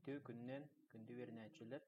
Үтүө күннээн, күндү үөрэнээччилэр.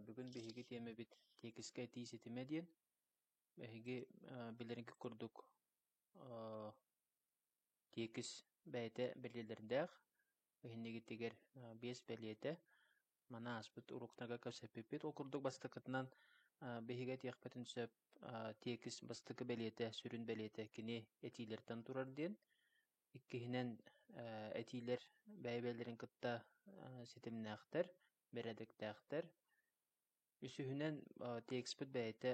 Бүгүн биһиги тиэмэбит тиэкискэ этии ситимэ диэн. Эһиги билэринки курдук Тиэкис бэйэтэ бэлиэлэрдээх, иһиннигитигэр биэс бэлиэтэ, маны ааспыт уруукнага кэпсэппиппит. Ол курдук бастакытынан биһиги этиэхпитин сөп, тиэкис бастакы бэлиэтэ, сүрүн бэлиэтэ кини этиилэртэн турар диэн. Иккиһинэн этиилэр бэйэ-бэйэлэрин кытта ситимнээхтэр, бэрээдэктээхтэр. Үсүһүнэн тиэкиспит бэйэтэ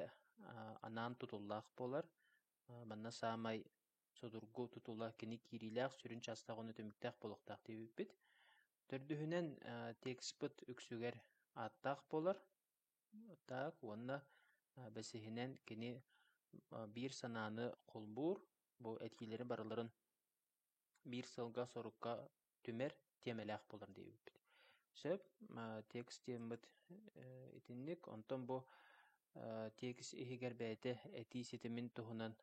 анаан тутуллаах буолар. Манна саамай судургу тутула кини киириилээх сүрүн чаастаах уонна түмүктээх буолуохтаах дии эппит. Төрдүһүнэн, текстпыт үксүгэр ааттаах буолар. Так уонна бэсиһинэн кини биир санааны холбуур, бу этиилэри барыларын биир сылга сорукка түмэр тиэмэлээх буолар диэбиппит. Сөп, текст диэммит итинник, онтон бу текст иһигэр бэйэтэ этии ситимин туһунан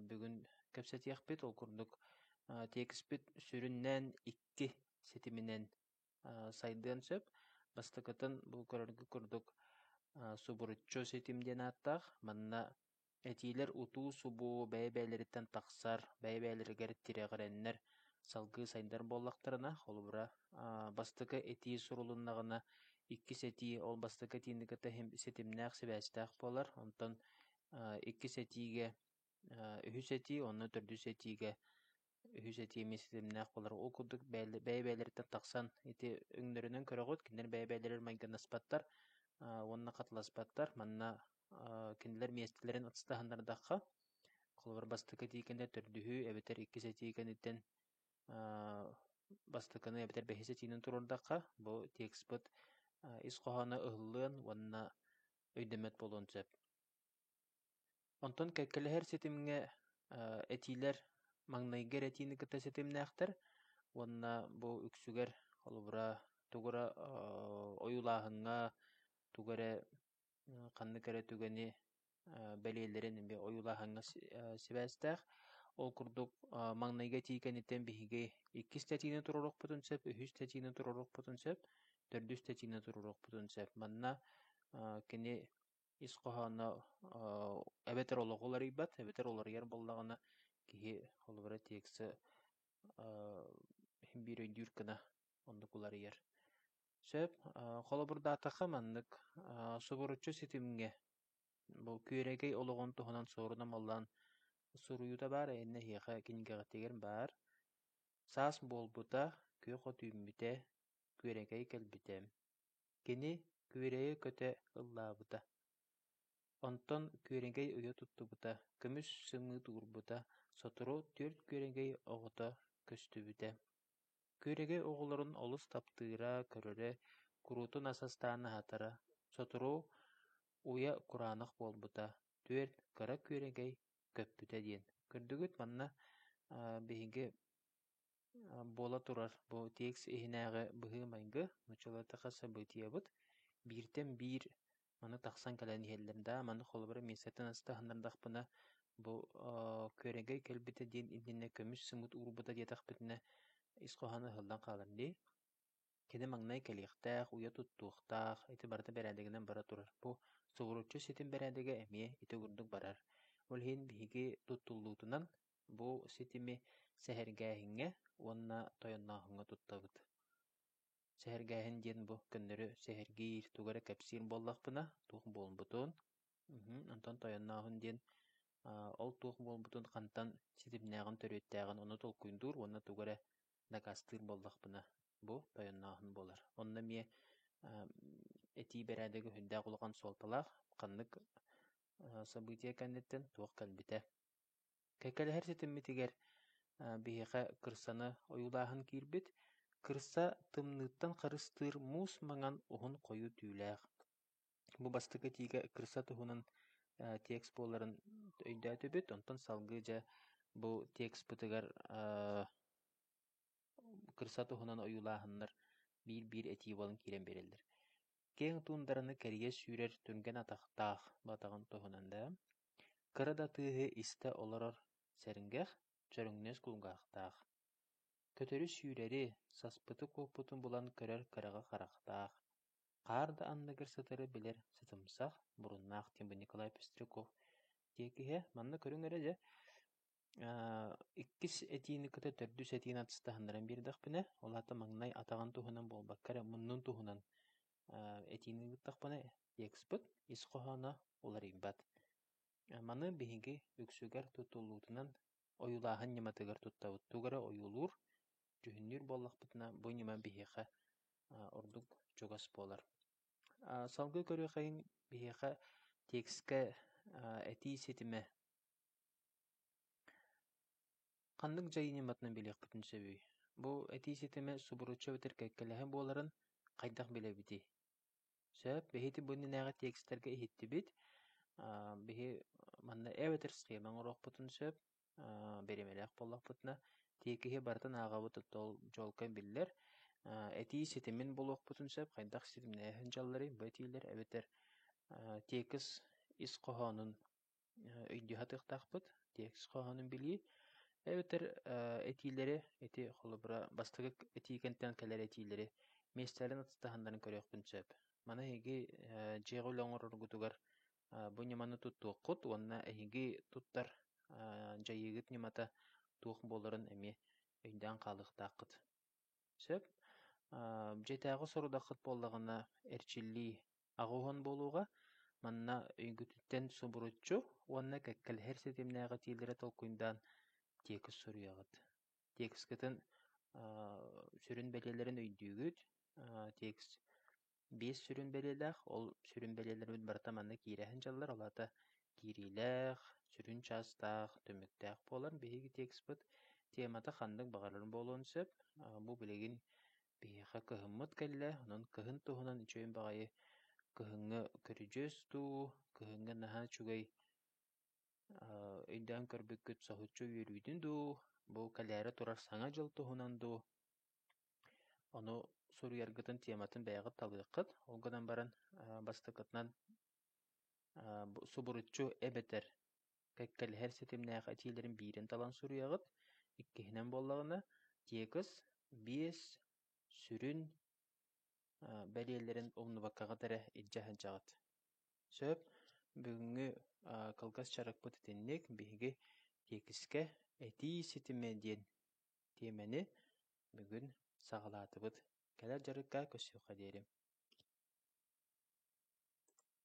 бүгүн кэпсэтиэхпит. Ол курдук текстпит сүрүннээн икки ситиминэн сайдыан сөп. Бастакытын бу көрөргө курдук субуруччу ситим диэн ааттаах. Манна Этиилэр утуу-субуу бэйэ-бэйэлэриттэн тахсар, бэйэ-бэйэлэригэр тирэҕирэннэр салгыы сайдар буоллахтарына, холобура, бастакы этии сурулуннаҕына, иккис этии ол бастакы этиинигэтэ ситимнээх, сибээстээх буолар. Онтон иккис этиигэ үһүс этии, онно төрдүс этиигэ үһүс этиэмиэ ситимнээх буолара ол курдук бэйэ-бэйэлэриттэн тахсан ити өҥнөрүнэн көрөҕүт кинилэр бэйэ-бэйэлэригэр майгынаспаттар уонна хатыласпаттар манна кинилэр миэстэлэрин ыстаһыннардахха холобур бастакы этиикэни төрдүһү эбэтэр иккис этиикэниттэн бастакыны эбэтэр бэһис этиинэн туруордахха бу текстпыт ис хоһооно ыһыллыан уонна өйдөммөт буолуон сөп Онтон кэккэлэһэр ситимҥэ этиилэр маҥнайгы эрэ этиини кытта ситимнээхтэр уонна бу үксүгэр холобура тугу эрэ ойуулааһыҥҥа тугу эрэ ханнык эрэ түгэни бэлиэлэрин эмиэ ойуулааһыҥҥа сибээстээх. Ол курдук маҥнайгы этии кэнниттэн биһиги иккис тэтиини туруоруохпутун сөп, үһүс тэтиини туруоруохпутун сөп, төрдүс тэтиини туруоруохпутун сөп. Манна кини ис хоһооно э, эбэтэр олоҕу уларыйбат, эбэтэр уларыйар буоллаҕына киһи холобура текстэ э, биир өйдүүр гына оннук уларыйар. Сөп. Э, холобурдаатахха маннык, э, субуруччу ситимҥэ бу күөрэгэй олоҕун туһунан суору намаллаан суруйуута баар эһиннэ эһиэхэ кинигэҕитигэр баар. Саас буолбута, күөх от үүммүтэ, күөрэгэй кэлбитэ. Кини күөрэйи көтө ыллаабыта. Онтон күөрэгэй ыйа туттубута, көмүс сымыыт уурбута, сотору түөрт күөрэгэй оҕото көстүбүтэ. Күөрэгэй оҕолорун олус таптыыра, көрөрө, куруутун ас астаан аһатара, сотору уйа кураанах буолбута, түөрт кыра күөрэгэй көппүтэ диэн. Көрдүгүт манна биһиги Буола турар, бу текст иһинээҕи быһыы-майгы, нуччалатыка событиебыт, бииртэн биир маны тахсан кэлэн иһэллэр да, маны холобура миэстэтэн астаһыннардахпына, бу күөрэгэй кэлбитэ диэн иннинэ көмүс сымыыт уурбута диэтэхпитинэ, ис хоһооно ыһыллан хаалар дии. Кини маҥнай кэлиэхтээх, уйа туттуохтаах, ити барыта бэрээдэгинэн бара турар. Бу сугуруччу ситим бэрээдэгэ эмиэ ити курдук барар. Ол иһин биһиги туттуллуутунан Бу ситими сэһэргээһиҥҥэ уонна тойоннооһуҥҥа туттабыт. Сэһэргээһин диэн бу көннөрү сэһэргиир тугу эрэ кэпсиир буоллахпына, туох буолбутун, мм, онтон тойоннооһун диэн аа, ол туох буолбутун, хантан ситимнээҕин, төрүөттээҕин ону толкуйдуур уонна тугу эрэ дакаастыыр буоллахпына, бу тойоннооһун буолар. Онно эмиэ аа, этии бэрээдэгэ сүрдээх улахан суолталаах. Ханнык аа, событие кэнниттэн туох кэлбитэ, Кэккэлэһэр ситиммитигэр биһиэхэ кырсаны ойуулааһын киирбит. Кырса тымныыттан харыстыыр муус маҥан уһун хойуу түүлээх. Бу бастакы этиигэ кырса туһунан текст буоларын өйдөөтүбүт. Онтон салгыы дьэ бу текстпытыгар кырса туһунан ойуулааһыннар биир-биир этии буолан киирэн биэрэллэр. Киэҥ туундараны кэрийэ сүүрэр түргэн атахтаах батаҕын туһунан да кыра да тыаһы истэ олорор сэргэх, чөрөҥнөс кулгаахтаах, көтөрү-сүүрэри, саспыты-куоппутун булан көрөр кыраҕы харахтаах, хаар да анныгар сытары билэр сытымсах, буруннаах Тимир Николай Пестряков тиэкиһэ манна көрүҥ эрэ дьэ иккис этиини кытта төрдүс этиини атыстаһыннаран биэрдэхпинэ, ол аата маҥнай атаҕын туһунан буолбакка эрэ муннун туһунан этиини ыыттахпына текстпыт ис хоһооно уларыйбат. Маны биһиги үксүгэр тутуллуутунан ойуулааһын ньыматыгар туттабыт. Тугу эрэ ойуулуур, дьүһүннүүр буоллахпытына, бу ньыма биһиэхэ ордук чугас буолар. Салгыы көрүөххэ биһиэхэ тексткэ этии ситимэ Ханнык дьайыы ньыматынан билиэхпитин сөбүй? Бу этии ситимэ субуруччу эбэтэр кэккэлэһэ буоларын хайдах билэбитий? Сөп, биһиги бу иннинээҕи текстэргэ иһиттибит. Аа, биһи манна эбэтэр схема оҥоруохпутун сөп, аа, бириэмэлээх буоллахпытына, тиэкиһи барытын ааҕабыт оттон чуолкай биллэр. Аа, этии ситимин булуохпутун сөп, хайдах ситимнээһин дьалларый бу этиилэр эбэтэр аа, тиэкис ис хоһоонун өйдүү сатыахтаахпыт, текст хоһоонун билии, эбэтэр этиилэри, эти холобура бастакы этии кэнтэн кэлэр этиилэри миэстэлэрин атастаһыннаран көрүөхпүн сөп. Маны эһиги дьиэҕэ үлэ оҥороргутугар бу ньыманы туттуоххут уонна эһиги туттар дьайыыгыт ньымата туох буоларын эмиэ өйдөөн хаалыахтааххыт. Сөп. Дьиэтээҕи сорудаххыт буоллаҕына эрчиллии аҕыһын буолуоҕа, манна өйгүтүттэн субуруччу уонна кэккэлэһэр ситимнээх этиилэри толкуйдаан тиэкис суруйаҕыт. Тиэкискитин сүрүн бэлиэлэрин өйдүүгүт. Тиэкис биэс сүрүн бэлиэлээх, ол сүрүн бэлиэлэрбит барыта манна киирээһин дьаллар, ол аата киириилээх, сүрүн чаастаах, түмүктээх буолар. Биһиги текстпыт темата ханнык баҕарар буолуон сөп. Бу билигин Биһиэхэ кыһыммыт кэллэ, онон кыһын туһунан үчүгэй баҕайы кыһыҥҥы көрүдьүөс дуу, кыһыҥҥы наһаа үчүгэй өйдөөн көрбүккүт соһуччу үөрүүтүн дуу, бу кэлээри турар Саҥа дьыл туһунан дуу, ону суруйаргытын тиэматын бэйэҕит талыаххыт. Ол гынан баран бастакытынан субуруччу эбэтэр кэккэлэһэр ситимнээх этиилэрин биирин талан суруйаҕыт, иккиһинэн буоллаҕына, текст биэс сүрүн бэлиэлэрин умнубаккаҕыт эрэ илдьэ сылдьаҕыт. Сөп, бүгүҥҥү кылгас дьарыкпыт итинник, биһиги тиэкискэ этии ситимэ диэн тиэмэни бүгүн саҕалаатыбыт. Кэлэр дьарыкка көрсүөххэ диэри.